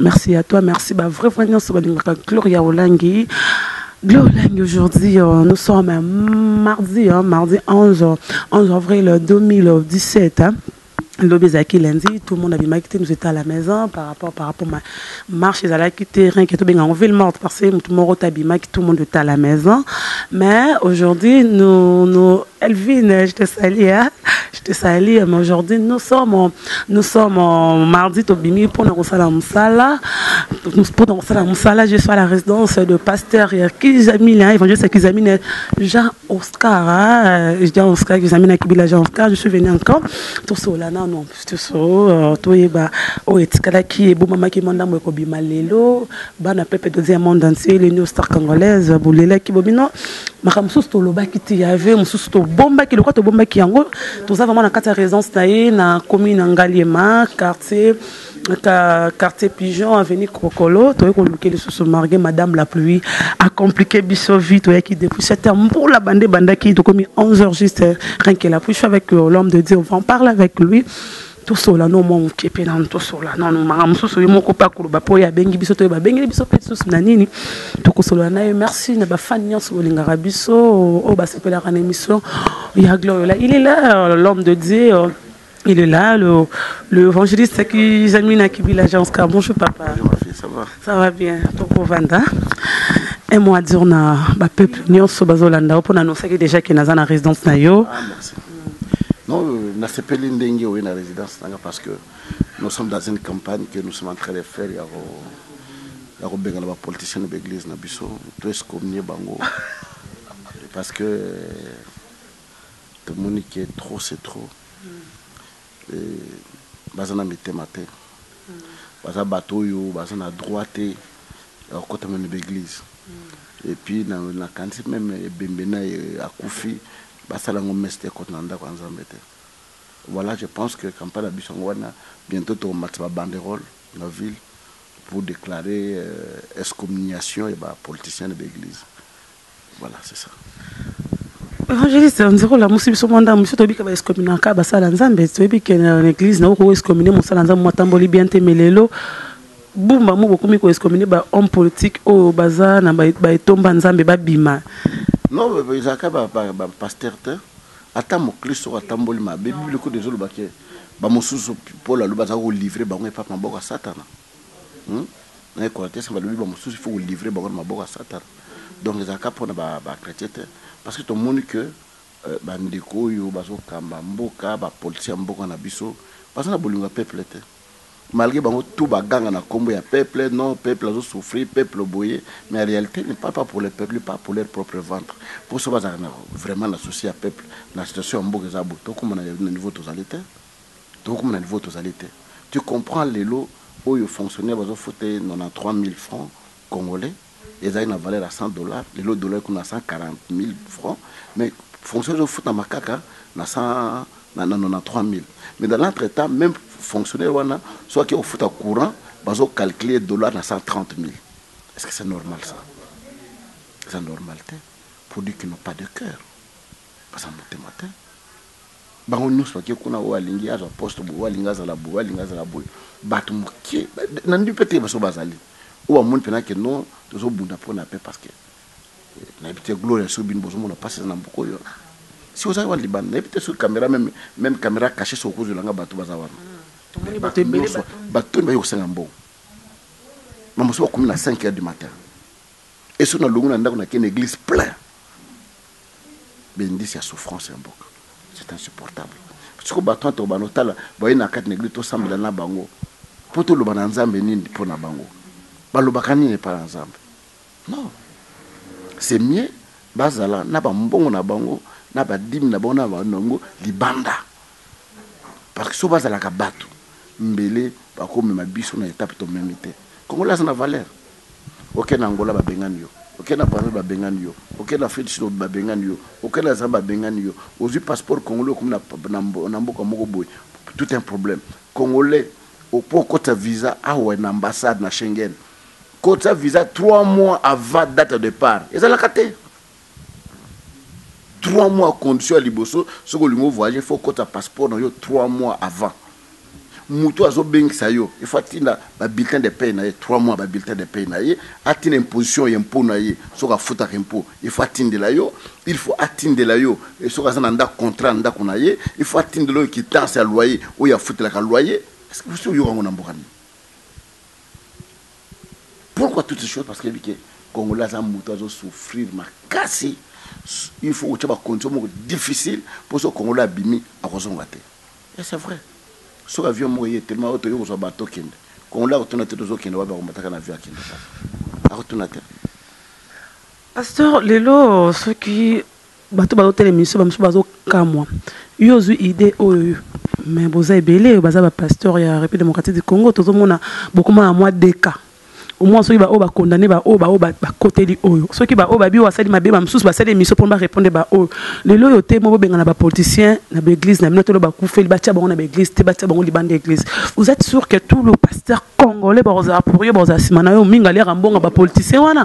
Merci à toi, merci ba vrai vrai nionso balingaka Gloria Olangi. Gloria Olangi aujourd'hui euh, nous sommes euh, mardi hein, mardi 11 11 avril 2017 hein. lobi ezalaki lundi tout le monde abimaki te nous étions à la maison par rapport par rapport ma marche ezalaki te rien que tobenga yango ville morte parce que motu moko te abimaki tout le monde était à la maison mais aujourd'hui nous, nous elvine je te salie hein? je te salie mais aujourd'hui nous sommes Nous sommes euh, mardi Tobimi pour nous faire la moussala. Pour nous faire la moussala, je suis à la résidence de pasteur Kizamine, hein, évangéliste Kizamine, Jean Oscar. Hein, Jean Oscar, Kizamine, Kibila Jean Oscar. Je suis venu encore. Tout ça, là, non, non, tout ça, euh, tout est bas. Oh, et Tikala qui est beau, maman qui manda, moi, Kobi Malelo, Bana Pepe, deuxième monde entier, les New Star Congolaise, Boulela, Kibobino. makambo mosusu tolobaki te ya ve mosusu tobombaki lokola tobombaki yango toza vraiment na kati ya résidence na ye na commune ya ngaliema quartier ka quartier pigeon avenue kokolo toyei koluke lisusu marge madame la pluie acomplike biso vie toyaki depuis 7 heures mbula bande ebandaki tokomi 11 heures juste rien que la pluie je suis avec euh, l'homme de dieu on va en parler avec lui Tosolola no mwa moke mpe nanu tosolola nanu makambo mosusu ye moko mpe akoloba mpo ye abengi biso toyeba abengeli biso mpe lisusu na nini tokosolola na ye merci na bafani nyonso bolingaka biso oyo basepelaka na émission ya gloriola il est là l'homme de dieu il est là le, le évangéliste qui zami na kibila janska bonjour papa bonjour, ma fille, ça, va? ça va bien tokovanda un mot à dire na bapeuple nyonso bazolanda yo mpo na nosaki déjà ke naza na résidence na yo ah, merci. Non, euh, nasepeli ndenge oye na résidence nanga parce que nous sommes dans une campagne que nous sommes en train de faire ya ko ya kobengana ba politiciens na baeglise na biso to excommunier bango parce que euh, tomoni que trop c'est trop Eeh baza na mitema te baza batu oyo baza na droit te ya kokota meme ba eglise et puis na kanisi meme ebembe naye akufi basala yango messe te ekota na ndaku ya nzambe te voila je pense que campagne na biso yango wana bientot toko matisa ba banderole na ville pour declare excommuniation ya ba politiciens na ba eglise. Voilà c'est ça. Evangeliste, on dirait la musique sur monde, monsieur Tobi kaba escomina ka basala nzambe, Tobi que na église na ko escominer musala nzambe matamboli bien te melelo. Bumba mo bokomi ko escominer ba homme politique oyo baza na ba etomba nzambe ba bima. Non, ezaka ba ba pasteur te. Ata moklisto atamboli mabe, Bible ko ezoloba ke ba mosusu Paul aloba aza ko livrer bango epa maboko ya satana. Na equateur ba lobi ba mosusu il faut ko livrer bango na maboko ya satana donc ezala ka pona ba chretiens te parce que to moni que ba ndeko oyo bazo kamba mboka ba politiciens ya mboka na biso baza na bolingo ya peuple te malgre bango tout ba ganga na kombo ya peuple non peuple azo souffrir peuple boye mais en realite il ne parle pas pour le peuple il parle pour leur propre ventre po soki bazalaka vraiment na souci ya peuple na situation ya mboka eza boye tokoma na niveau tozali te. Tokokoma na niveau oyo tozali te. Tu comprends lelo oyo fonctionnaire bazofuta ye 93000 francs congolais ezali na valeur ya 100 dollars, lelo dollar ekomi na 140000 francs mais fonctionnaire ezofutama kaka na 93000 mais dans l'entre temps meme fonctionnaire wana soki ake kofuta courant bazo calculer ye dollar na 130000 est-ce que c'est normal ça? Eza normal te pour dire qu'ils n'ont pas de cœur. Baza motema te bango nionso bake kuna oyo alingi azwa poste boye oyo alingi azala boye oyo alingi azala boye batu moke na ndimi pe te baso bazali oyo bamoni pena ke non tozo bunda pona pe parce que nayebi te gloria soki bino bozo mona pasi eza na mboka oyo si ozali wana libanda nayebi te soki camera meme meme camera cache soki okozwela nga batu baza wana tomoni bato ebele bato toni baye kosenga mbongo na mosusu bakomi na 5 heures du matin esoki na longo na ndako na kende eglise plein ba indice ya souffrance ya mboka c'est insupportable sikoyo batu wana tokobanda kotala baye na kati na eglise tosambela na bango po toloba na nzambe nini po na bango balobaka nini epa na nzambe non c'est mieux bazala na ba mbongo na bango na ba dime na bango na bango libanda Parce que soki bazalaka batu mbele bakomema biso na etape tomemi te. Congolais aza na valeur. Okende na Angola babengani yo, okende na Brazzaville babengani yo, okende na Afrique du Sud babengani yo, okende na Zambie babengani yo, ozui passeport congolais okomi na mboka moko boye tout un problème. Congolais po okotisa visa awa na ambassade na Schengen kotisa visa trois mois avant date ya depart ezalaka te. 3 mois condition ya liboso soki olingi o voyage faut okota passeport na yo 3 mois avant mutu azo bengisa yo il faut atinda ba bulletin de paye na ye 3 mois ba bulletin de paye na ye atinda imposition ya impot na ye soki afutaka impot il faut atindela yo il faut atindela yo soki aza na ndako contrat na ndako na ye il faut atindela yo quittance ya loyer oyo afutelaka loyer est ce que vous oyoka ngo na mboka nini Pourquoi toutes ces choses parce que ayebi ke congolais aza mutu azo souffrir makasi il faut kotia ba condition moko difficile po soki congolais abimi akozonga te et c'est vrai soki avion moko eye telema oyo toye kozwa ba tokende congolais akotuna te tozokende wapi akomataka na avion akende kaka akotuna te Pasteur lelo soki Batu bazo tala emission ba mususu bazo kamwa yo ozui idee oyo mais boza ebele baza ba pasteur ya Republique Democratique du Congo tozo mona bokoma na mwa deka omwa soki ba oyo ba condamner ba oyo ba oyo ba koteli oyo soki ba oyo ba bio asali mabe ba mususu basali emission pona ba répondre ba oyo lelo oyo te mo bobengana ba politiciens na ba eglise na bino tolo bakufeli batia bango na ba eglise te batia bango libanda ya eglise vous etes sur que tout le pasteur congolais bakozala pour yo bakozala nsima na yo mingi aliaka mbongo ba politicien wana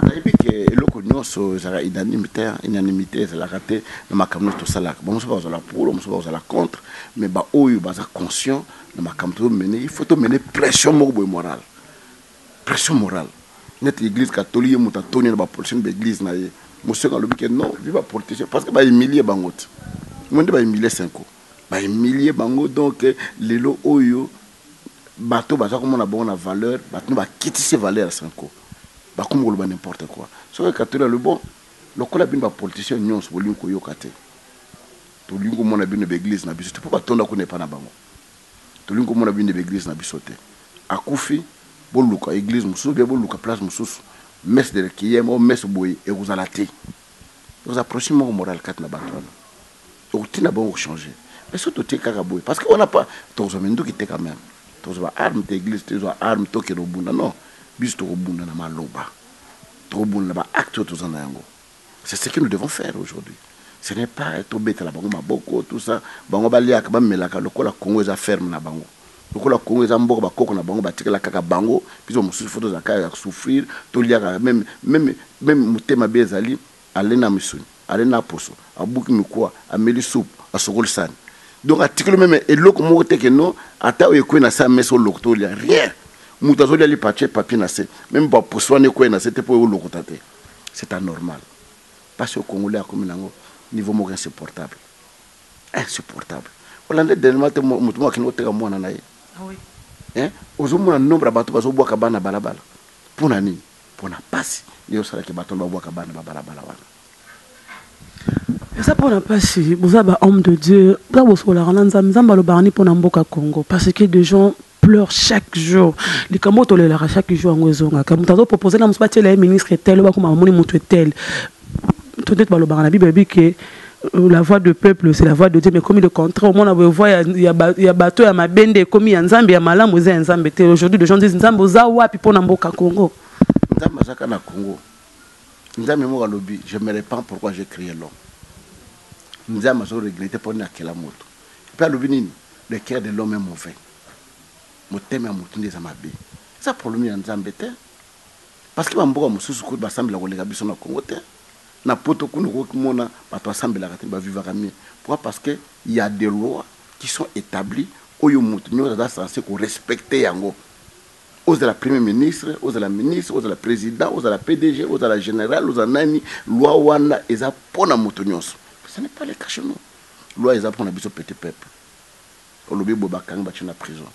eloko nyonso ezalaka unanimité unanimité ezalaka te na makambo nyonso tosalaka bamosusu bakozala pour bamosusu bakozala contre mais baoyo baza conscient na makambo tozomene il faut tomene pression moko boye morale pression morale neti église catholique ye moto atoni na bapolitien ba église na ye moseko alobi ke non vi bapoliticien parce que bahumilie bango te ngo nde bahumilie senko bahumilie bango donc lelo oyo bato baza komona bango na valeur bato nde bakitisi valeur ya Cenco bakomi koloba n'importe quoi soki ekatoli alobi bon lokola bino ba politiciens nionso bolingi koyoka te tolingi komona bino ba eglise na biso te mpo batonda kuna epa na bango tolingi komona bino ba eglise na biso te akufi boluka eglise mosusu bia boluka place mosusu messe de requiem o messe boye ekozala te Oza approche moko morale kati na batu wana. Okotinda bango ko changer. Mais soki totie kaka boye parce que on a pas tokozwa minduki te quand meme. Tokozwa ba armes te, eglise te ezwa armes tokende kobunda non. Biso tokobunda na maloba. Tokobunda na ba actes oyo toza na yango. C'est ce que nous devons faire aujourd'hui. Ce n'est pas tobetela bango maboko tout ça. Bango baliaka, bamelaka lokola Congo eza ferme na bango. Lokola Congo eza mboka ba koko na bango ba tikala kaka bango, biso ba mosusu faut tozala kaka ya souffrir, to lia kaka meme, meme, meme mote mabe ezali, ale na misuni, ale na poso, abuki mikuwa, ameli soupu, asokoli sani. Donc atikeli yo meme eloko moko te que non ata oyo ekweyi na se ya mesa olokota olia, rien! Mutu azo lia lipa atie papier na se, meme ba poso wana ekweyi na se te po olokota te. C'est anormal. Pasi oyo congolais akomi na yango niveau moko insupportable. Insupportable. Olanda dernièrement te mutu moko akende koteka mwana na ye? Ah oui. Hein? Ozomona nombre ya batu bazobwaka bana na balabala? Pona nini? Pona pasi nde osala ke batu wana babwaka bana ba balabala wana. Eza pona pasi, boza ba homme de Dieu, boza bosololaka na Nzambe, Nzambe alobaka nini pona mboka Congo? Parce que de gens. pleure chaque jour likambo oyo tolelaka chaque jour yango ezongaka moto azo propose na mosu batiela ye ministre tel oyo bakoma bamoni moto etel to ndeti balobaka na bible ebi ke euh, la voix de peuple c'est la voix de dieu mais komi le contraire omona boye voix ya, ya, ba, ya bato ya mabe nde ekomi ya nzambe ya malamu eza ya nzambe te aujourd'hui de gens disent nzambe oza wapi mpo na mboka congo nzambe azaka na congo nzambe moko alobi je me repens pourquoi j'ai créé l'homme nzambe azo regrete mpo nini akela moto Epuis alobi nini le coeur de l'homme est mauvais motema ya mutu nde eza mabe eza probleme ya nzambe te parce que ba mboka mususu kutu ba sambela koleka biso na congo te na poto kuna okoki komona batu ba sambelaka te ba vivaka mieux pourquoi parce que ya de loi qui sont etabli oyo mutu nioso aza sense ko respecte yango ozala premier ministre ozala ministre ozala president ozala pdg ozala general ozala nani loi wana eza pona mutu nioso ce n'est pas le cas chez nous Loi eza pona biso petit peuple olobi boye bakangi batie na prison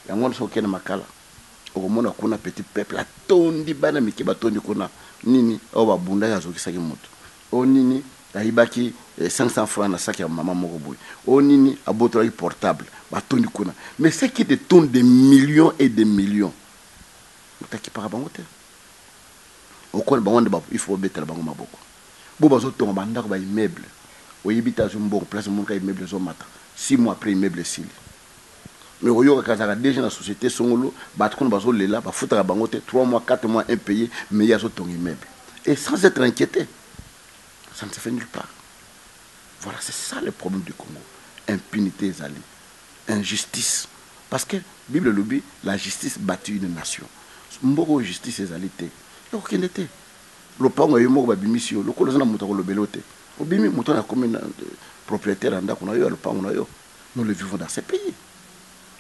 yango wana soki oke na makala okomona kuna petit peuple atondi bana mike batondi kuna nini oyo babundaki azokisaki moto oyo nini ayibaki 500 eh, francs na sac ya mama moko boye oyo nini abotolaki portable batondi kuna mais ce qui te tourne des millions et des millions moto akipaka bango te okona bango nde il faut babetela bango maboko Bo bazo tonga ba ndaku ba immeuble oyebi te azwi mbongo place omoni kaka immeuble ezo mata six mois après immeuble esili mais okoyoka ke azalaka DG na societe songolo batu kuna bazo lela ba futaka bango te trois mois quatre mois impaye mais ye azo tonga immeuble et sans etre inquiete ça ne se fait nulle part voilà c'est ça le problème du Congo impunite ezali injustice parce que bible elobi la justice bati une nation mboka oyo justice ezali te ekokende te. Lopango ya yo moko babimisi yo lokola oza na moto ya kolobela yo te obimi moto wana akomi proprietaire ya ndako na yo ya lopango na yo nous le vivons dans ce pays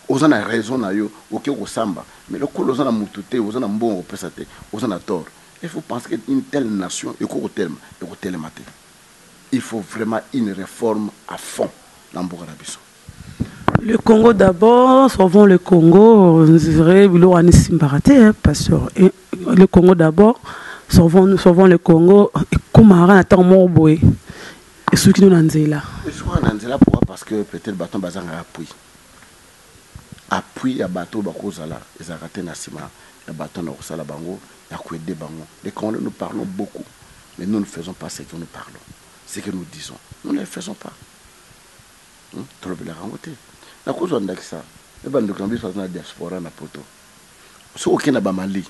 oza na raison na yo oke kosamba mais lokola oza na moto te oza na mbongo kopesa te oza na tort il faut penser que une telle nation eko kotelema ekotelema te il faut vraiment une reforme à fond na mboka na biso Le Congo d'abord, sauvons le Congo. Vrai bilo ani simbaka te hein, pasteur. Et Le Congo d'abord, sauvons nous sauvons le Congo. Ekomaka na ntango moko boye esuki no na nzela. esuka na nzela pourquoi parce que peut-être bato wana bazangaka appui appui ya bato oyo bakozala ezalaka te na nsima ya bato wana bakosala bango ya koede bango les congolais nous parlons beaucoup mais nous ne faisons pas ce que nous parlons ce que nous disons nous ne le faisons pas Tolobelaka yango te. Nakozwa ndakisa ya ba ndoki na biso baza na diaspora na poto. Soki oke na ba Mali,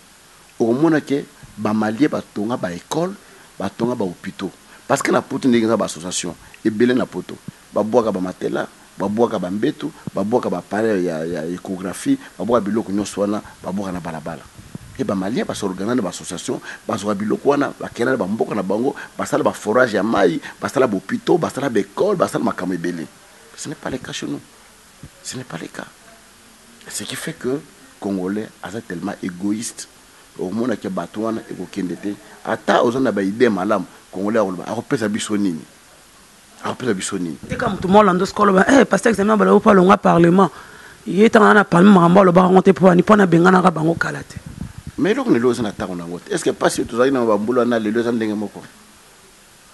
okomona ke ba Maliens ba tonga ba ecoles, ba tonga ba hopitaux. Parce que na poto ndenge eza ba associations ebele na poto, ba bwaka ba matelas, ba bwaka ba mbetu, ba bwaka ba appareils ya echographie, ba bwaka biloko nionso wana, ba bwaka na balabala. Et ba maliens ba s'organa na ba association bazua biloko wana bakenda na ba mboka na bango basala ba forage ya mayi basala b'hopitaux basala ba ecole basala makambo ebele ce n'est pas le cas chez nous ce n'est pas le cas ce qui fait que congolais aza tellement egoïste okomona ke batu wana ekokende te ata oza na ba idee malamu congolais akoloba akopesa biso nini akopesa biso nini tika moto mwa olanda osika oloba e eh, paster examen balobi mpo alonga parlement ye ntango na na parlement makambo alobaka yango te mpo ani mpo nabenganaka bango kala te ma eloko na eloko eza na ntango na yango te est ce que mpasi oyo tozalaki nango bambula wana lelo eza ndenge moko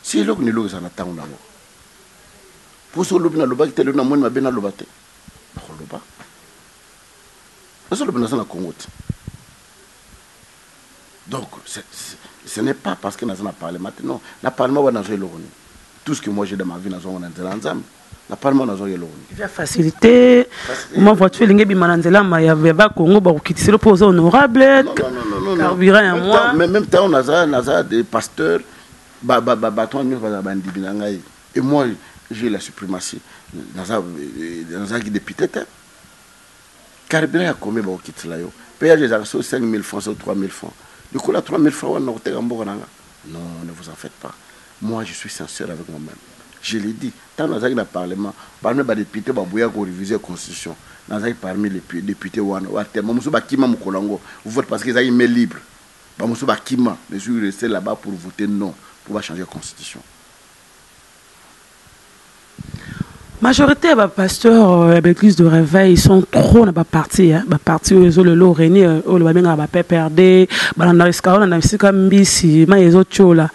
si eloko na eloko eza na ntango na yango mposo olobi nalobaki te lelo namoni mabe naloba te nakoloba nazoloba naza na kongo te Donc ce n'est pas parce que naza na parlement te non na parlement wana nazwa eloko nini tout ce que moi j'ai dans ma vie nazwa yango na nzela ya Nzambe na parlement nazwa eloko nini visa facilité ma voiture elingi ebima na nzela ma ya ba Congo bakokitiselo mpo oza honorable carburant ya moi même temps naza naza de pasteur bato wana nyonso bazala bandimi na ngai et moi j'ai la suprématie nazalaki député te Carburant ya combien bakokitela yo? Peage ezalaka soki 5000 francs soki 3000 francs. Likolo ya 3000 francs wana nakoteka mboka na nga? Non, ne vous en faites pas. Moi je suis sincère avec moi meme. Je l'ai dit, tango nazalaki na parlement, parmi ba deputes ba boyaki ko reviser constitution, nazalaki parmi les deputes wana oyo atelema. Ba mosusu ba kima mokolo yango vote parce que ezalaki main libre. Ba mosusu ba kima, mais je suis reste là-bas pour voter non, pour ba changer constitution. Majorité ya ba pasteurs euh, ya ba église de réveil ils sont trop na ba parti hein? ba parti oyo ezo lelo reni euh, oyo ba bengaka ba PPRD balanda esika balanda esika mbisi mai ezo tiola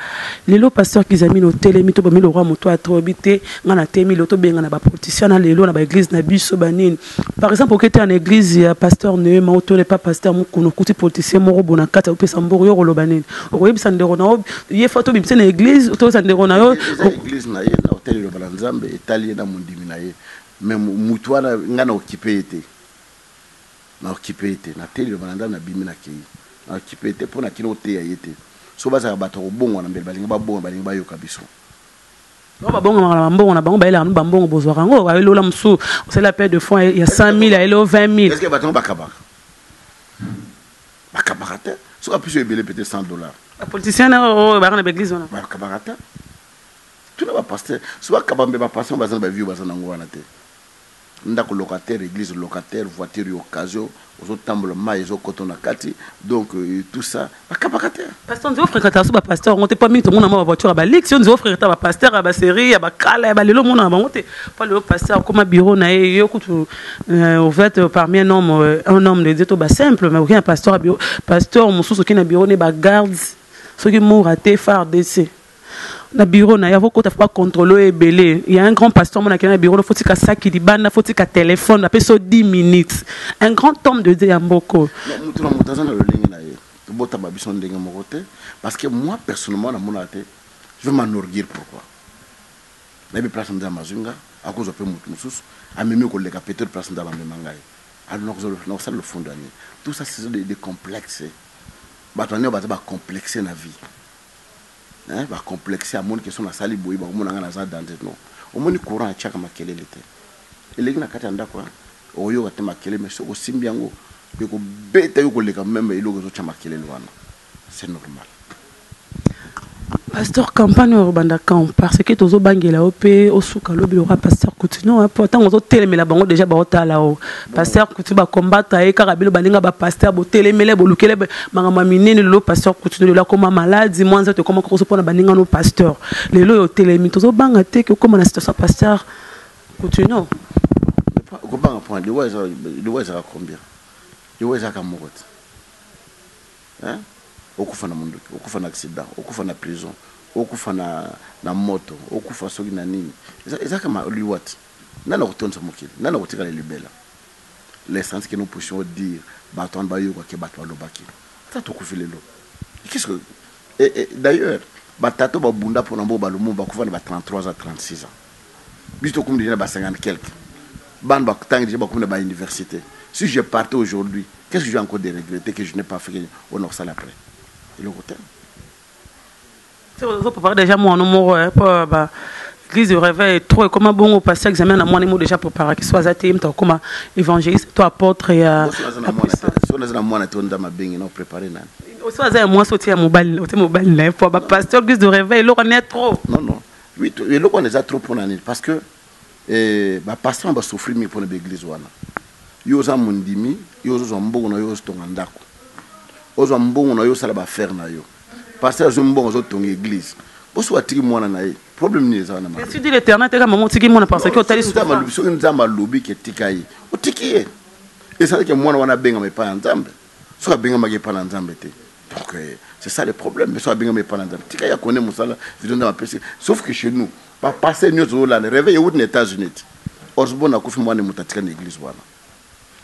lelo pasteur Kizamino otelemi to bomi lokwa moto atobi te ngai natemi lelo tobenga na ba politiciens na lelo na ba église na biso banini Par exemple oke te na eglise ya pasteur Neema ou tole pa pasteur Mukuna okuti politicien moko bo na kati akopesa mbongo yo okoloba nini? Okoyebisa ndeko na yo ye fo tobimisa na eglise otoyebisa ndeko na yo eglise na ye na otali liloba na Nzambe etali ye na mondimi na ye mais mutu wana nga na okipe ye te na okipe ye te na teli liloba na Nzambe na bimi na keyi na okipe ye te po na kino koteya ye te so bazalaka bato ya kobongwana mbele balingi babongwana balingi bayoka biso Bango babongamaka na bambongo na bango, bayelaka bino bambongo bozwaka yango, aye lola mosusu osali appel de fonds ya 100.000 ayeli yo 20.000. Est-ce que bato yango bakabaka? Bakabaka te, soki apesi yo ebele peut-être 100 dollars. Ba politiciens na oyo oyo bayaka na ba eglise wana. Bakabaka te. Tuna ba pasteurs, soki bakaba mpe ba pasteurs baza na ba vues baza na yango wana te. ndaku locataire eglise locataire voiture ya occasion ozo tambola mayi ezo koto na kati donc tout ça ba kabaka te. Pasteur nzeo frekataka so ba pasteur yango te po mingi tomona mwa ba voiture ya ba luxe yo nzeo frekataka ba pasteur ya ba serie ya ba kala ya ba lelo omonaka bango te po lelo pasteur akoma bureau na ye yo kutu euh, ouvert euh, parmi un homme euh, un homme de Dieu to ba simple mais okiya pasteur ya bureau pasteur mosusu okiyi na bureau ne ba gardes soki mura te fardc na bureau na yavo kota fa contrôle ebele il y a un grand pasteur mon akena bureau na fotika saki libanda fotika téléphone na peso 10 minutes un grand homme de Dieu ya mboko mutu na mutu azana lolenge na ye bota ba biso ndenge moko te parce que moi personnellement na mona te je vais m'enorguir pourquoi na bi place nzama mazunga akozo pe mutu mususu amemi ko leka peut-être place nzama mema ngai alors na kozo na kosala le fond d'année tout ça c'est des complexes bato anyo baza ba complexes na vie Hein ba complexe ya moni que son asali boye bako mona nga naza danger non omoni courant atiaka makelele te eleki na kati ya ndaku hein okoyoka te makelele mais soki osimbi yango eko beta yo koleka meme eloko ezo tia makelele wana c'est normal. Pasteur campagne oyo ekobanda quand parce que tozo bangela yo pe osuka lobi lokola pasteur coutinho hein po tango ozo telemela bango dejà bao tala yo. Pasteur kutu ba combattre ye kaka bino baninga ba pasteur botelemele bolukele makambo ya minene lelo pasteur kutu lelo akoma maladi mwa nzoto ekoma kokoso mpo na baninga no pasteur lelo oyo otelemi tozobanga te ke okoma na situation pasteur kutu no okobanga mpo liwa ezalaka combien liwa ezalaka moko te okufa na mondoki okufa na accident okufa na prison okufa na moto okufa soki na nini ezalaka liwa te Nani akotondisa mokili? Nani akotikala libela? L'essence que nous puissions dire batu wana bayoka que batu balobaki ata tokufi lelo et qu'est ce que et et d'ailleurs ba tata oyo babunda pona mboba lumumba bakufa na ba 33 ans 36 ans biso tokomi dejà na ba 50 quelques bana batangi dejà bakomi na ba universite si je partais aujourd'hui qu'est ce que je vais encore de regretter que je n'ai pas fait que oyo nakosala après eloko te ozo préparer déjà mwana moko eh, po ba l'église de réveil trop ekoma bongo passer examen na mwana mo déjà préparer ki so aza te mta koma évangéliste to apôtre ya so na mwana to nda mabengi na préparer nani oso aza ya mwasi otie ya mobali otie mobali na ye po ba pasteur église de réveil eloko ne trop non non oui eloko wana eza trop pona nini parce que Eeh ba pasteur wana ba souffrir mingi pona ba eglise wana yo oza mondimi yo ozo zwa mbongo nayo ozo tonga ndaku ozwa mbongo nayo osala ba affaire nayo pasteur azwi mbongo azo tonga eglise po soki atiki mwana naye problème nini eza wana ma tu dis l'eternel te ka maman otiki mwana parce que otali souffrance soki nzambe alobi ke tika ye otiki ye ezali ke mwana wana abengama epa ya nzambe soki abengamaki epa na nzambe te donc euh, c'est ça le problème mais soki abengama epa na nzambe tika ye akone mosala video nzambe apesi sauf que chez nous Ba pasteur nioso ozo landa reveil ewuti na etats unite osborn akufi mwana ne moto atika na eglise wana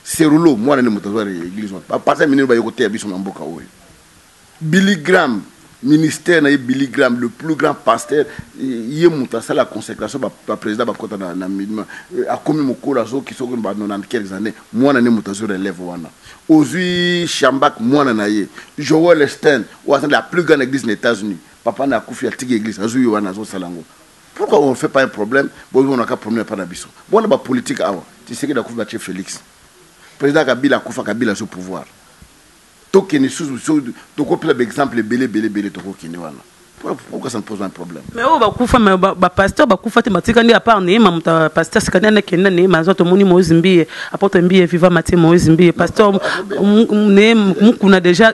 serulo mwana ne moto azwa na eglise wana ba pasteur minene baye koteya biso na mboka oyo billy gram ministère na ye billy gram le plus grand pasteur ye moto asala consecration ba, ba president bakota na, na minima euh, akomi mokolo azoki soki ba 90 quelques années mwana ne moto azwi relève wana ozwi shambak mwana na ye joel stein oyo aza la plus grande église na etats unis Papa naye akufi atiki eglise azui wana azo sala ngo pourquoi on fait pas un problème bo mona ka problème epa na biso bona ba politique awa tshisekedi akufi ba tie Felix president kabila akufa kabila azui pouvoir to kende susu so toko pela ba exemple ebele ebele ebele toko kende wana pourquoi ça ne pose pas un problème mais oyo ba kufa mais ba, ba pasteur ba kufa te matika ndi à part ne ma muta pasteur sikana na kenda ne ma zoto moni moise mbiye apôtre mbiye viva matie moise mbiye pasteur ne mukuna déjà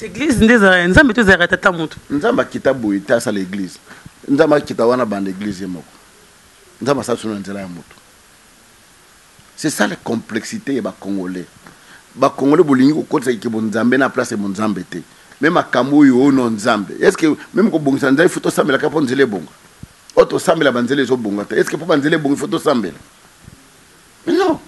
Eglise nde ezalaka ya Nzambe to ezalaka ya tata moto? Nzambe akita boye te asala eglise. Nzambe akita wana banda eglise ye moko. Nzambe asala solo na nzela ya moto. C'est ça la complexité ya ba Congolais. Ba Congolais bolingi kokotisa kikebo Nzambe na place ya Nzambe te. Meme makambo oyo oh non Nzambe. Est-ce que meme kobongisa nzela il faut tosambela kaka mpo nzela ebonga? Oyo tosambela banzela ezobonga te. Est-ce que mpo banzela ebonga il faut tosambela? Yo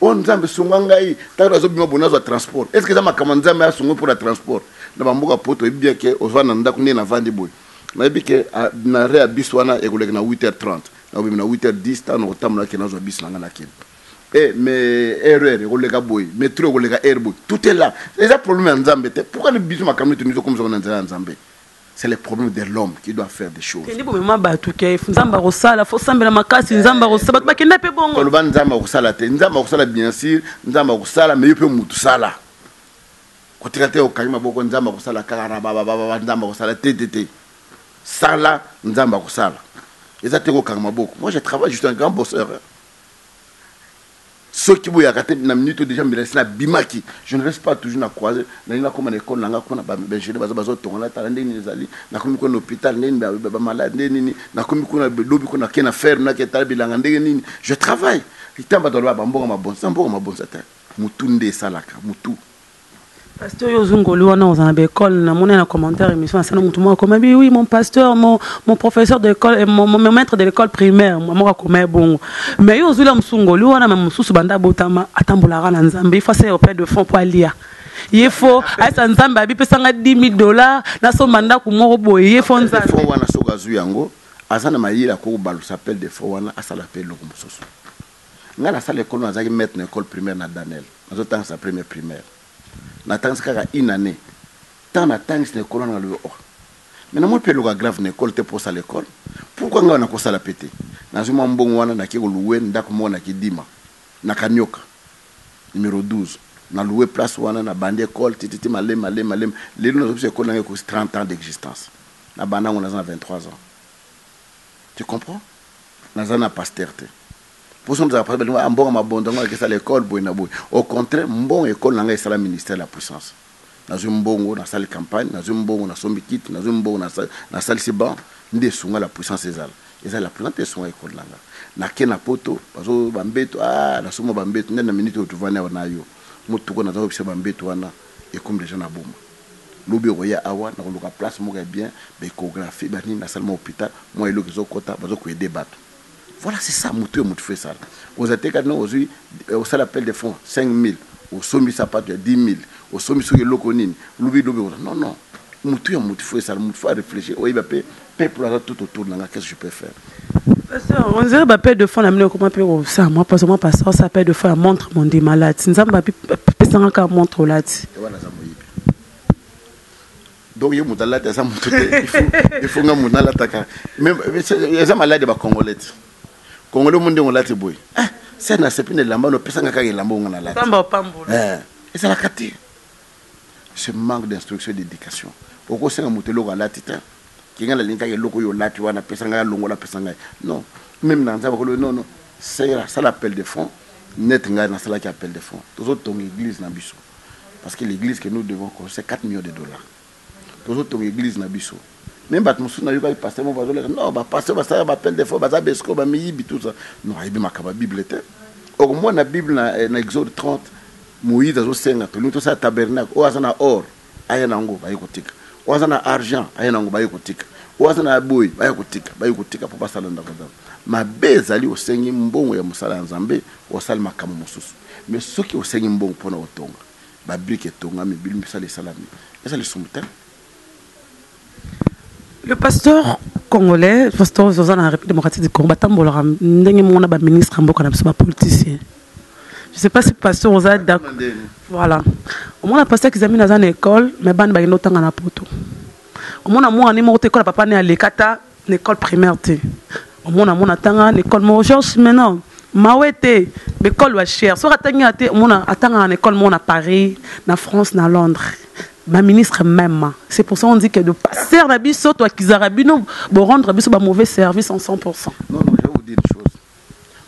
oh nzambe sunga ngai tango nazo bima boye nazwa transport est ce que eza makambo ya nzambe asunga mpo na transport na bamboka poto oyebi bien ke ozwa na ndako ndenge navandi boye nayebi ke ah, na rea bis wana ekoleka na 8h30 nakobima na 8h10 ntango nakotambola ke nazwa bis na ngai nakende Eh, mais erreur ekoleka boye metro ekoleka heure boye tout est là eza problème ya nzambe te pourquoi biso makambo nito mizo komisaka na nzela ya nzambe c'est le problème de l'homme qui doit faire des choses kende bomema bato ke nzambe akosala fo sambela makasi nzambe akosala bato bakenda mpe bongo koloba nzambe akosala te nzambe akosala bien sûr nzambe akosala mais yo mpe mutu sala kotika te okangi maboko nzambe akosala kaka rabababa nzambe akosala te te te sala nzambe akosala eza te kokanga maboko moi je travaille je suis un grand bosseur hein? Soki boyaka te na minute oyo dejà mbila esi na bimaki je ne reste pas toujours na croise nalingi na koma na ecole na nga kuna ba ingenieur baza bazo tonga na tala ndenge nini ezali na komi kuna na hopital ndenge nini ba ba malade ndenge nini na komi kuna lobi kuna ke na ferme na ke tala bilanga ndenge nini je travaille litan bato aloba ba mbongo mabonza mboka mabonza te mutu nde esalaka mutu Pasteur yo zungoli wana oza na école na mona na commentaire émission na sana mutu moko akoma bi oui mon pasteur mon mon professeur de l'école eh, mon, mon maître de l'école primaire moko akoma bongo mais yo ozula musungoli wana mais mususu banda botama atambolaka na nzambe il faut se auprès de fond pour alia ye fo ayesa nzambe abi pesa nga 10000 dollars na somba ndako moko boye ye fo nzambe fo wana soka azu yango aza na mayela ko balusa appel de fo wana asala pe loko mususu Nga na sala ecole nazalaki maitre na ecole primaire na Danel nazo tangisa premier primaire na tangisi kaka une annee tant na tangisi na ecole wana nga lobi oh mais na moni pe eloko ya grave na ecole te po osala ecole pourquoi nga nako sala pe te nazui mwa mbongo wana na ke ko loue ndaku moko na kidima na kanioka numero 12 na loue place wana na bandi ecole ti ti ti male male male lelo nazo bisa ecole na nga ekosi 30 ans d'existence na banda ngo naza na 23 ans Tu comprends? Naza na pasteur te. Poso mozaka pasteur balingo ah mbongo mabondo yango nakesa l'ecole boye na boye. Au contraire mbongo ecole na ngai esala ministère de la puissance. Nazui mbongo nasali campagne, nazui mbongo nasombi kiti, nazui mbongo nasalisi banc nde esunga la puissance ezala. Eza la puissance nde esunga ecole na nga. Nake na poto bazo ba mbetu ah nasomba ba mbetu nde na minute oyo tovandi awa na yo motuka naza koyebisa yo ba mbetu wana. Ekomi dejà na boma lobi okoya awa na koluka place moko ya bien ba echographie ba nini na salle mwa hopital mwa eloko ezo kota bazo ko aider batu voilà c'est ça mutu oyo mutu faut esala oza te kati na ozui osali appel de fond 5000 osombi sapatu ya 10000 osombi soki eloko nini lobi lobi non non mutu ya mutu faut esala mutu faut a reflechir oyeba pe Peuple aza tout autour na nga qu'est-ce que je peux faire? Pasteur, on dirait ba père de foi na bino ekoma pe ko sa moi parce que moi pasteur sa père de foi ya montre mon dit malade. Nzambe api pesanga ka montre olati. Et wana za moyibi. Donc ye mutu alati aza mutu te. Il faut il faut nga mutu nalataka. Mais eza malade ba congolais. Congolais monde ngolati boy. Ah, c'est na sepine lamba no pesanga ka lamba ngana lati. Pamba pambo. Eh, ezalaka te. Ce manque d'instruction et d'education oko senga mutu eloko alati te ke nga nalingi kaka eloko oyo olati wana pesa ngai alongola pesa ngai non meme na nzambe akolobi non non sera sala appel de fond net ngai nasalaki appel de fond tozo tonga eglise na biso parce que l'église que nous devons construire 4 millions de dollars tozo tonga eglise na biso Meme bato mosusu nayokaki pasteur moko bazoleka non ba pasteur basalaka ba appel de fois baza besco ba miyibi tout ça non ayebi makambo ya bible te okomona bible na, eh, na exode 30 moïse azosenga tolingi tosala tabernacle oyo aza na or aya na yango baye kotika oyo aza na argent aya na yango baye kotika oyo aza na boye baya kotika baye kotika mpo basala ndako ya nzambe mabe ezali osengi mbongo ya mosala ya nzambe osali makambo mosusu me soki osengi mbongo mpo na kotonga babrike etongami bilimbisala esalami eza lisumu te Le pasteur congolais, pasteur Zoza na République démocratique du Congo, batambolaka ndenge moko na ba ministre mboka na biso ba politiciens. Je sais pas si pasteur Oza d'accord. Voilà. Au moins la pasteur qui examine dans une école, mais ban ba yendo tanga na poto. Au moins na moi ni moko te ko la papa ne alekata Na ecole primaire te omona mwana atanga na ecole moko Georges Simenon mawe te ba ecole ba cher soki atangi awa te omona atangaka na ecole moko na Paris na France na Londres ba ministre meme c'est pour ça on dit que de pasteur na biso to akizaka bino bo rendre biso ba mauvais service en 100 pourcent. Non, non, je vais vous dire une chose.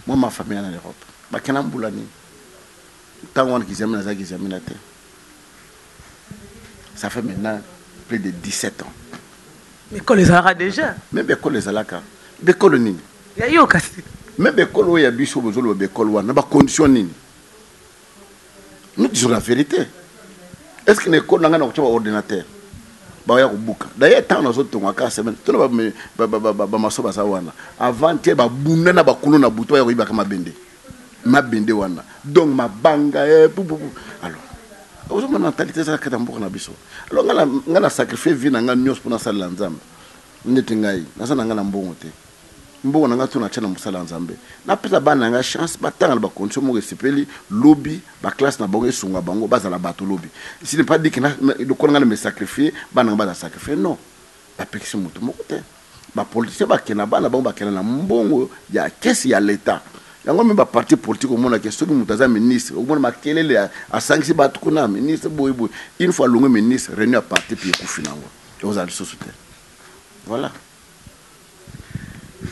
Moi, ma famille en Europe, bakenda mbula nini? Ntango wana kizamina azalaki kizamina te. ça fait maintenant plus de 17 ans bikolo ezalaka déjà me bikolo ezalaka bikolo nini ya yo kasi me bikolo oyo ya biso bozoloba bikolo wana na bacondition nini nous disons la vérité est ce que na ekolo na ngai nakotya baordinateur baya kobuka daye ntango nazotonga kaka semaine tona bamaso baza wana avant te babunda na bakulu na butu baya koyibaka mabende mabende wana donc mabanga eh, pou, pou, pou. alors ozomona mentalite ezala kati ya mboka na biso alors ngai na sacrifie vie na ngai nyonso mpo nasalela nzambe ndete ngai naza na ngai na mbongo te mbongo na ngai to natya na mosala ya nzambe napesa bana na ngai chance batanga na bakondition moko esepeli lobi baklasse na bango esunga bango bazala bato lobi si ne pas dike lokola ngai na me sacrifie bana ngai bazala sacrifie non Bapekisi moto moko te ba politiciens ba kende na bana bango ba kende na mbongo ya caisse ya l'etat yango meme ba partis politiques omona ke soki moto aza ministre omona makelele asangisi batu kuna ministre boye boye une fois alongwe ministre reunion ya parti puis ekufi nango ekozala lisusu te voilà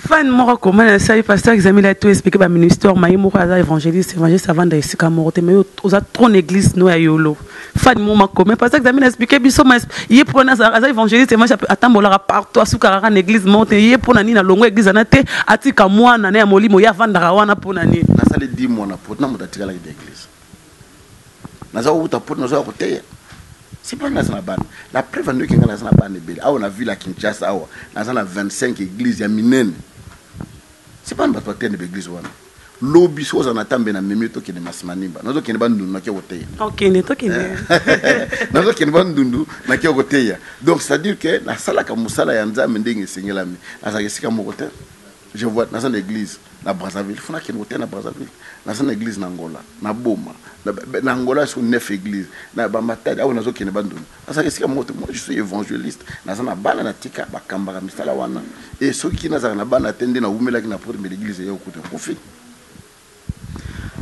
fan moko akoma na sali pasteur examile ya to expliquer ba ministère maye moko aza évangéliste évangéliste avanda esika moko te mais yo oza trop église no ya yolo fan moko makoma pasteur examile expliquer biso mais ye pona aza évangéliste évangéliste atambolaka partout asukaka na église moko te ye pona nini alongo église ana te atika mwana na ya molimo ye avandaka wana pona nini nasali 10 mois na poto na moto atikalaki na église naza kowuta poto nazoya koteya c'est pas naza na bana la preuve andoki nga naza na bana ebele awa na ville ya kinshasa awa naza na 25 église ya minene c'est pas na bato batende ba église wana lobi soki ozala na tambe na memi tokende masimanimba nazokende bandundu nake koteya nazokende bandundu nake koteya donc c'est à dire que nasalaka mosala ya nzambe ndenge esengelami nazalaka esika moko te Je vois naza na eglise na Brazzaville faut nakende koteya na Brazzaville naza na eglise na Angola na boma na Angola sur 9 eglise na ba matadi awa nazo kende bandundu naza esika moko te moi je suis evangeliste naza na bana na tika ba kambaka misala wana et soki nazalaka na bana te nde na wumelaki na poto mais l'eglise eya okuta kufi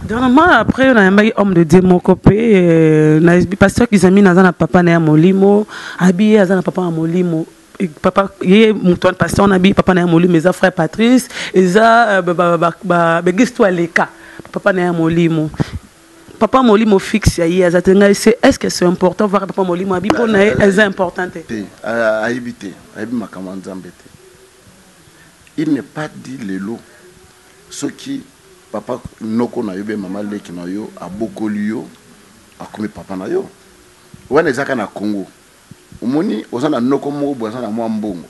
Dernièrement, après, on a un homme de Dieu moko pe, euh, na pasteur Kizami naza na papa na ya molimo, abi aza na papa na molimo. papa ye moto wana pasteur na bi papa na ya molimo eza frère patrice eza euh, baeglise to aleka papa na ya molimo papa molimo fixe ya ye aza te ngai se est ce que c'est important voir papa molimo abi mpo na ye eza important te te ayebi te ayebi makambo ya nzambe te il n'est pas dit lelo Soki papa noko nayo bien maman leki nayo abokoli yo akomi papa nayo wana eza kaka na congo omoni oza na noko moko boye aza na mwa mbongo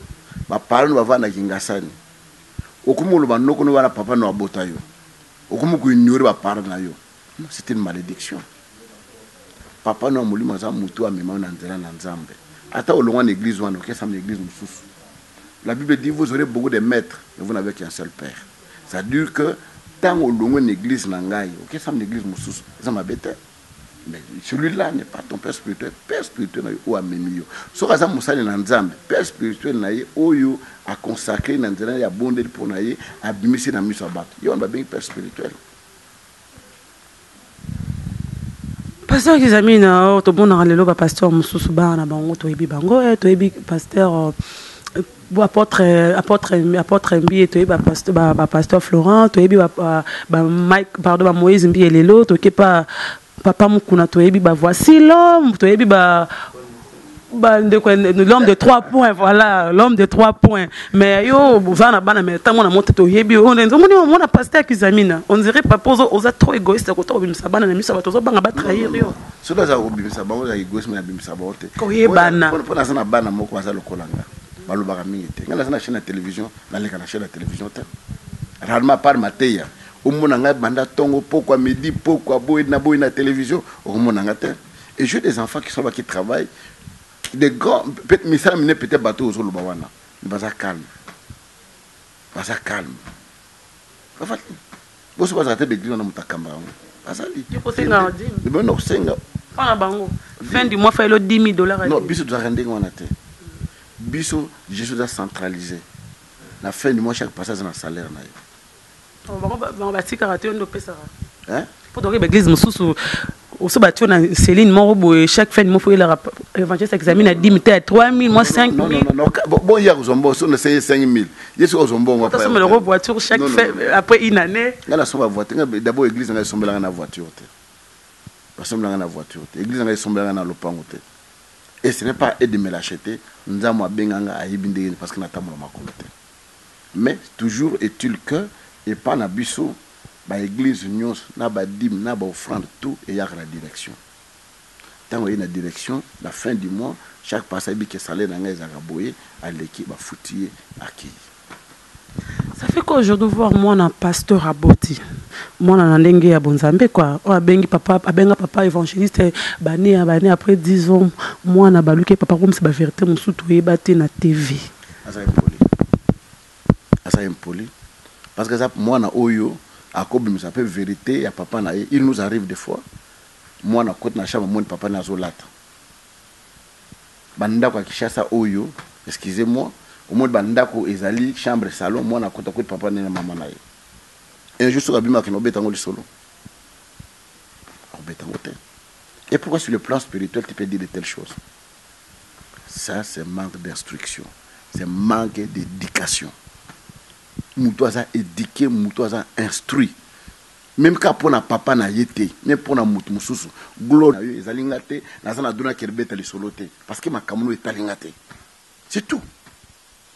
ba parent no bavanda na kingasani okomi koloba noko no wana papa no abotayo okomi ko ignore ba parent nayo C'est une malediction papa no ya molimo aza mutu amema yo na nzela na nzambe ata olongwa na eglise wana okesama na eglise mususu la bible dit vous aurez beaucoup de maitre mais vous n'avez qu'un seul père ça veut dire que tango olongwe na eglise na ngai okesama na eglise mususu eza mabe te mais celui là n'est pas ton père spirituel père spirituel na yo oyo amemi yo soki aza mosali na nzambe père spirituel na ye oyo aconsacre na nzela ya bondeli mpo na ye abimisi na miso ya bato ye wana babengi père spirituel Pasteur Kizamina, oh, tomonaka lelo ba pasteur mosusu bana na bango toyebi bango eh, toyebi pasteur oh, euh, apôtre apôtre apôtre Mbiye toyebi ba pasteur ba, ba pasteur Florent toyebi ba, ba, ba Mike pardon ba Moïse Mbiye lelo toke pa papa Mukuna toyebi ba voici l'homme toyebi ba ba ndeko l'homme de trois points voilà l'homme de trois points mais yo boza na bana mais tango na moto toyebi on nzo moni on mona pasteur kizamina on dirait papa ozo oza trop égoïste ko to bimisa bana na miso ba tozo banga ba trahir yo so baza ko bimisa bango na égoïsme na bimisa bango te ko yebana po na sana bana moko baza lokola nga balobaka mingi te nga naza na chaîne ya télévision naleka na chaîne ya télévision te rarement par mateya omona ngai banda ntongo pokwa midi pokwa boye na boye na télévision okomona nga te et j'ai des enfants qui sont là qui travaillent des grands peut misala mine peut-être bato ozo loba wana mais baza calme baza calme bafati boso bazala te beglise wana moto akamba yango bazali bino kosenga mpona bango fin du mois failo 10 000 dollars non biso tozalaka ndenge wana te biso gestion eza centralise na fin du mois chaque passage na salaire na ye bango batikaka te nde opesaka po toke ba église mosusu oso batio na celine moko boye chaque fin moko elaka evangeliste examine na 10 ta 3000 mwa 5000 bon ya kozwa mbongo so na 5000 yesu ozwa mbongo après sombela ko voiture chaque fin après une année nga na somba voiture nga d'abord église nga sombela nga na voiture te ba sombela nga na voiture te église nga sombela nga na lopango te et ce n'est pas aide me l'acheter nzambo abenga nga ayebi ndenge parce que na tambola makolo te mais toujours est il que epa na biso ba eglise nionso na ba dime na ba offrande tout eyaka na direction tango eyi na direction na fin du mois chaque pasteur ayebi que salaire na ngai ezalaka boye aleki ba futi ye akeyi. Ça fait quoi aujourd'hui voir mwana pasteur aboti mwana na ndenge ya bonzambe quoi oyo abengi papa abenga papa evangeliste b'annee ya b'annee après 10 ans mwana abaluki ye papa akomisa ba verite mosusu toyeba te na TV. Aza impoli aza impoli parce que aza mwana oyo ako bimisa pe verite ya papa na ye il nous arrive de fois mwana akoti na chambre amoni papa na ye azo lata ba ndako ya Kinshasa oyo excusez moi omoni ba ndako ezali chambre salon mwana akoti akoti papa na ye na maman na ye un jour soki abimi akende obeta yango lisolo akobeta yango te et pourquoi sur le plan spirituel tu peux dire de telle chose Ça c'est manque d'instruction, c'est manque d'education, mutu aza eduque, mutu aza instruit meme kaka pona papa na ye te meme pona mutu mususu, gloire na yo ezali nga te, naza na droit yako beta lisolo te parce que makambu na yo etali nga te c'est tout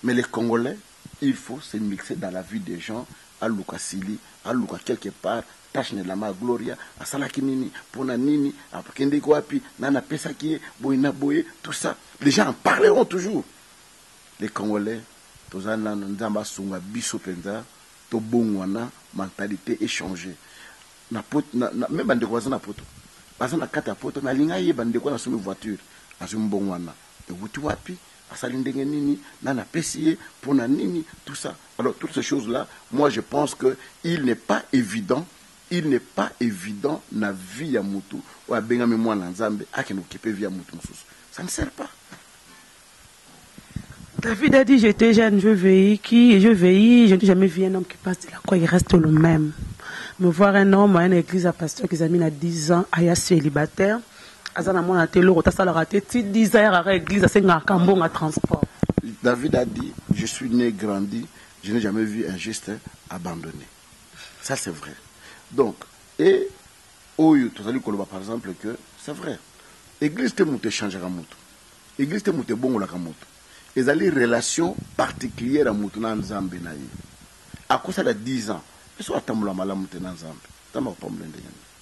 mais les congolais. Il faut se mixer dans la vie des gens aluka Sili aluka quelque part tache ne lama Gloria asalaki nini pona nini akendeki wapi nani apesaki ye boye na boye tout ça les gens en parleront toujours les congolais toza nanu nzambe asunga biso penza tobonguana mentalite e changer na poto na meme ba ndeko baza na poto baza na kati ya poto nalinga yeba ndeko wana asomi voiture azwi mbonguana ewuti wapi asali ndenge nini nani apesi ye pona nini tout ça alors toutes ces choses là moi je pense que il ne pas evident il ne pas evident na vie ya mutu oyo abengami mwana ya nzambe akende kokipe vie ya mutu mususu ça ne sert pas. David a dit j'etais jeune je veille qui je veille je n'ai jamais vu un homme qui passe de la croix il reste le même me voir un homme à une église à pasteur qui a mis na 10 ans aya celibataire Aza na mwana te eloko te asalaka te ti dix ans ayakaka eglise asengaka kambonga transport. David a dit je suis ne grandi je ne jamais vu un juste abandonne ça c'est vrai donc et oyo tozali koloba par exemple que c'est vrai eglise te moto echangaka moto eglise te moto ebongolaka moto ezali relation particulière ya moto na nzambe na ye akosala 10 ans esoki atambola malamu te na nzambe nzambe akopambola ndenge nini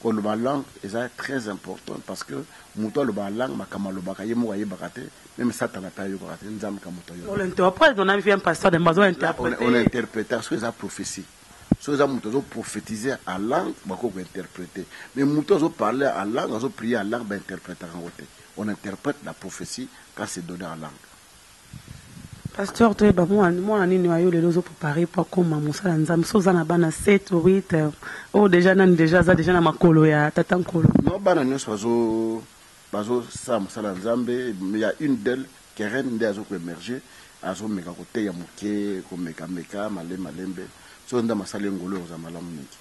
Koloba langue eza très important parce que mutu alobaka langue makambo alobaka ye moko ayebaka te meme satana pe ayokaka te nzambe kaka mutu ayoka. On interpretaka soki eza prophetie soki eza mutu azo prophetise en langue bakoki ko interprete mais mutu azo parle en langue azo prier en langue ba interpretaka yango te on interprete la prophetie quand c'est donne en langue. Pasteur toyeba muana nini oyo lelo ozo preparer po akoma mosali ya nzambe soki oza na bana sept ou huit oyo dejà nani dejà aza dejà na makolo ya tata nkolo. Non bana nionso bazo bazo sala mosala ya nzambe mais ya une d'elle kerene nde azo ko emerger azo meka koteya muke komeka meka malembe malembe soki nzambe asali ye ngolu ekozala malamu mingi.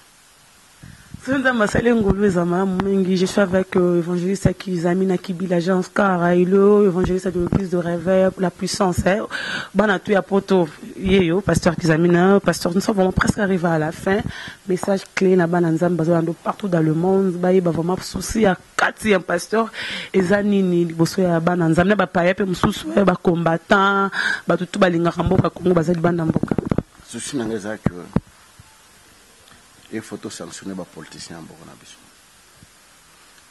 Soki nzambe asali ngolu eza malamu mingi je suis avec euh, évangéliste ya kizami na kibila jean oscar et le évangéliste ya l'église de réveil la puissance eh, bana tout ya poto yeyo pasteur kizami na pasteur nous sommes vraiment presque arrivé à la fin message clé na bana nzambe bazolanda partout dans le monde bayeba vraiment souci ya kati ya pasteur eza nini liboso ya bana nzambe na bapaya mpe mosusu eh, bacombattant bato tu balingaka mboka congo baza libanda mboka souci na ngai eza que il faut to sanctionner ba politiciens ya mboka na biso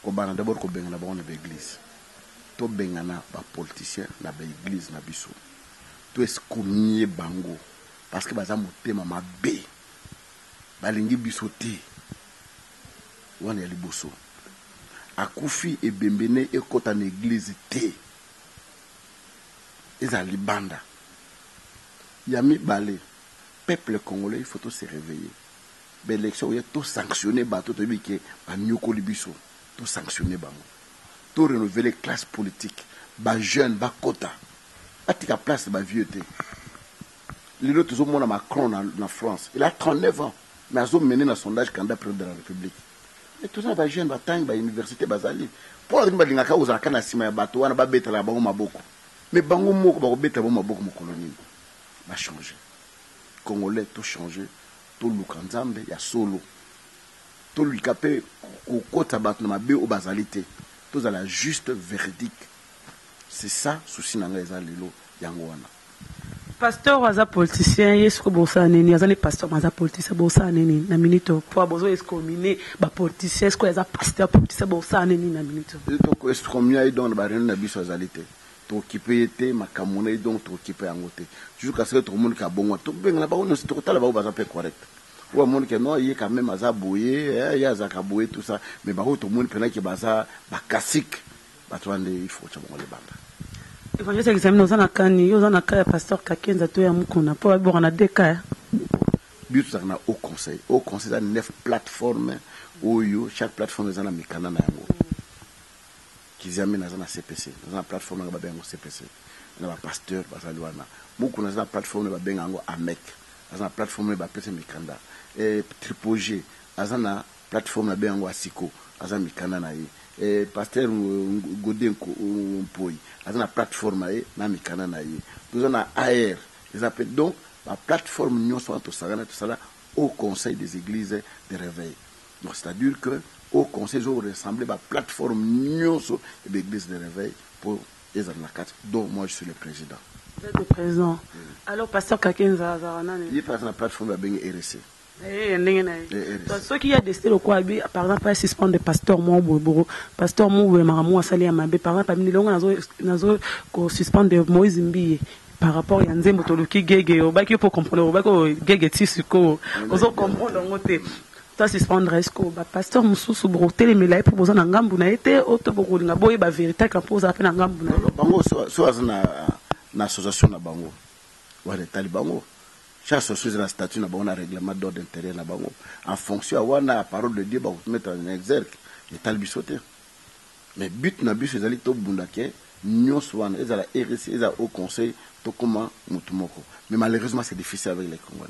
kobanda d'abord kobengana bango na ba eglise tobengana ba politiciens na ba eglise na biso to excommunier bango parce que baza motema mabe balingi biso te wana ya liboso akufi ebembe ne ekota na eglise te ezala libanda ya mibale Peuple congolais il faut to se reveiller ba election ekoya to sanctionne batu toyebi ke ba niokoli biso to sanctionne bango to renouvelle classe politique ba jeune ba kota ba tika place ba vieux te lelo tozo mona Macron na, na France il a 39 ans mais azo mener na sondage candidat president de la Republique mais toza na ba jeune ba tangi ba université bazali mpo na ba lingaka kozala kaka na sima ya batu wana ba betela bango maboko mais bango moko bako betela bango maboko mokolo nini ba change congolais to change toluka nzambe ya solo tolika pe kokota bato na mabe oyo bazali te tozala juste veridique c'est ça souci na nga eza lelo yango wana. Pasteur oyo aza politicien ye sikoyo bosala ne nini aza nde pasteur mais aza politicien bosala ne nini na minute oyo po bozo escomine ba politicien sikoyo aza pasteur politicien bosala ne nini na minute oyo. Toko escomia ye donc na ba reunion na biso azali te. Tokipe ye te makambu naye donc tokipe yango te jusqu'à ce que tokomoni ke abongwani tokobengana bango nioso tokotala bango baza pe correct oyo amoni ke non ye quand meme aza boye eh ye azalaka boye tout ça mais ba oyo tomoni pena ke baza ba cassique batu wana nde il faut kotia bango libanda. Evangeliste examine oza na cas nini yo oza na cas ya pasteur kakenza to ya mukuna po babibwaka na deux cas eh. Biso tozalaka na haut conseil haut conseil eza neuf plate forme oyo chaque plate forme eza na mikanda na yango. Kiziamina aza na CPC, naza na plateforme nanga babenga yango CPC, na ba pasteurs bazali wana. Mukuna aza na plateforme naye babenga yango AMEC, aza na plateforme naye bapesa mikanda. Eh Tripoge aza na plateforme nabenga yango Asiko, aza na mikanda na ye. Eh Pasteur Gode Mpoyi aza na plateforme na ye na mikanda na ye. Toza na AR eza pe donc ba plateformes nionso wana tosangani tosala Haut Conseil des Eglises de Reveil. Donc c'est à dire que oyo conseil ezo ressembler ba plateforme nionso ya ba eglise de reveil po ezala na kati dont moi je suis le president. Vous etes le president alors pasteur kakenza azalaka nani? Ye pe aza na plateforme ba bengi RSE. Na ye ya ndenge na ye donc soki ye a decide lokola alobi par exemple a suspendre pasteur moko boye boko pasteur moko boye makambo moko asali ya mabe par exemple amini longa nazo nazo ko suspendre moise mbiye par rapport ya nzembo toluki gege obaki yo pe o comprendre obaki o gege ti sikoyo ozo comprendre yango te To suspendre est ce que ba pasteurs mususu boko telemela ye po boza na ngambu na ye te ou to boko linga bo yeba verite ka po ozala pe na ngambu na ye? Bango soki aza na na association na bango wana etali bango chaque association eza na statut na bango na reglement d'ordre interieur na bango en fonction ya wana ya parole de Dieu bako to mettre en exergue etali biso te mais but na biso ezali to bunda ke nionso wana ezala REC ezala haut conseil to koma mutu moko mais malheureusement c'est difficile avec les congolais.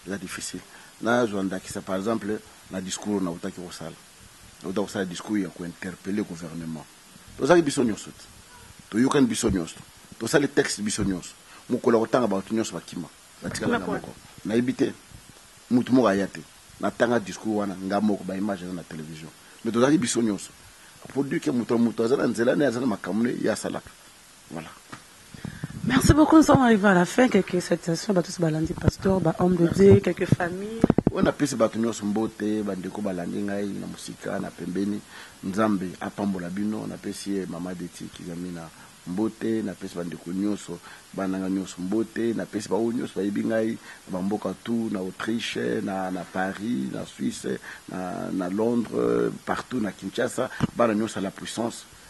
Eza difficile na zua ndakisa par exemple na discours oyo na wutaki ko sala. Na wuta ko sala discours ya ko interpeller gouvernement. To zalaki biso nionso te. To yokani biso nionso. To sali texte biso nionso. Mukolo ya ko tanga batu nionso ba kima. Ba tikala nga moko. Na yebi te. Mutu moko aya te. Na tanga discours wana nga moko. Ba images eza na television. Mais to zalaki biso nionso. Pour dire que mutu na mutu aza na nzela naye, aza na makambo naye ye asalaka. Voilà merci beaucoup nous sommes arrive à la fin quelques salutations bato nyonso balandi pasteur ba homme de Dieu quelques familles oyo napesi bato nyonso mbote bandeko balandi ngai na mosika na pembeni nzambe apambola bino napesi ye mama deti kizamina mbote napesi bandeko nyonso bana na ngai nyonso mbote napesi baoyo nyonso bayebi ngai na bamboka tout na autriche na, na paris na suisse na, na londres partout na kinshasa bana nyonso ya la puissance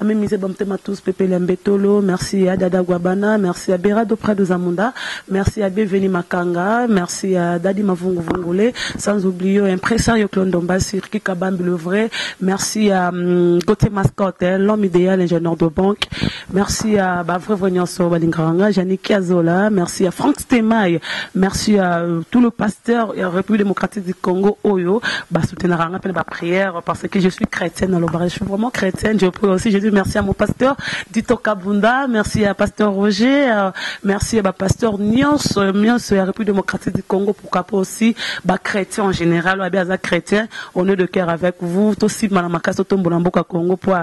Amemi zeba motema tous pepele ya mbetolo merci ya dada guabana merci ya berado prado zamunda merci ya bienveni makanga merci ya dadi mavungu vungule sans oublio impresario clone dombasi riki kabambi le vrai merci ya gautier mascotte l'homme idéal ingénieur de banque merci ya ba vrai vrai nyonso balingaka nga janiki azola merci ya frank stemay merci ya tout le pasteur ya république démocratique du congo oyo basoutenaka nga mpe na ba prière parce que je suis chrétienne na lobaka je suis vraiment chrétienne je prie aussi je dis merci à mon pasteur Dito Kabunda merci à pasteur Roger euh, merci à ba pasteur Nyonso euh, Nyonso ya République démocratique du Congo pourquoi pas aussi ba chrétiens en général ou bien chrétien on est de cœur avec vous to simba na makasi to tombola mboka Congo pour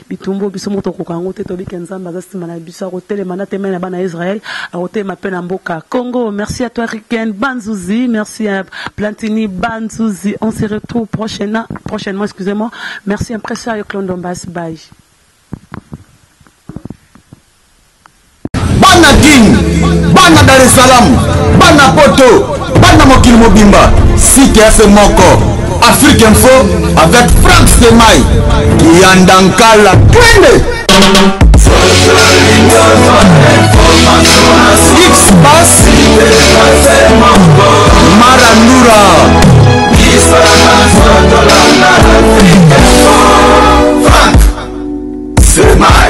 Bitumbu oyo biso moko tokokoka yango te, toyebi ke Nzambe aza sima na biso, akotelema na temei na bana ya Israël, akotelema pe na mboka Congo. Merci à toi Ricken Banzuzi, merci à Plantini Banzuzi, on se retrouve prochainement, prochainement excusez-moi, merci Impresario Clondombas, bye. bana kin bana dar es salaam bana poto bana mokili mobimba site ya se moko afrique info avec frank semai kiyanda nkala kende xbas marandura Frank Semai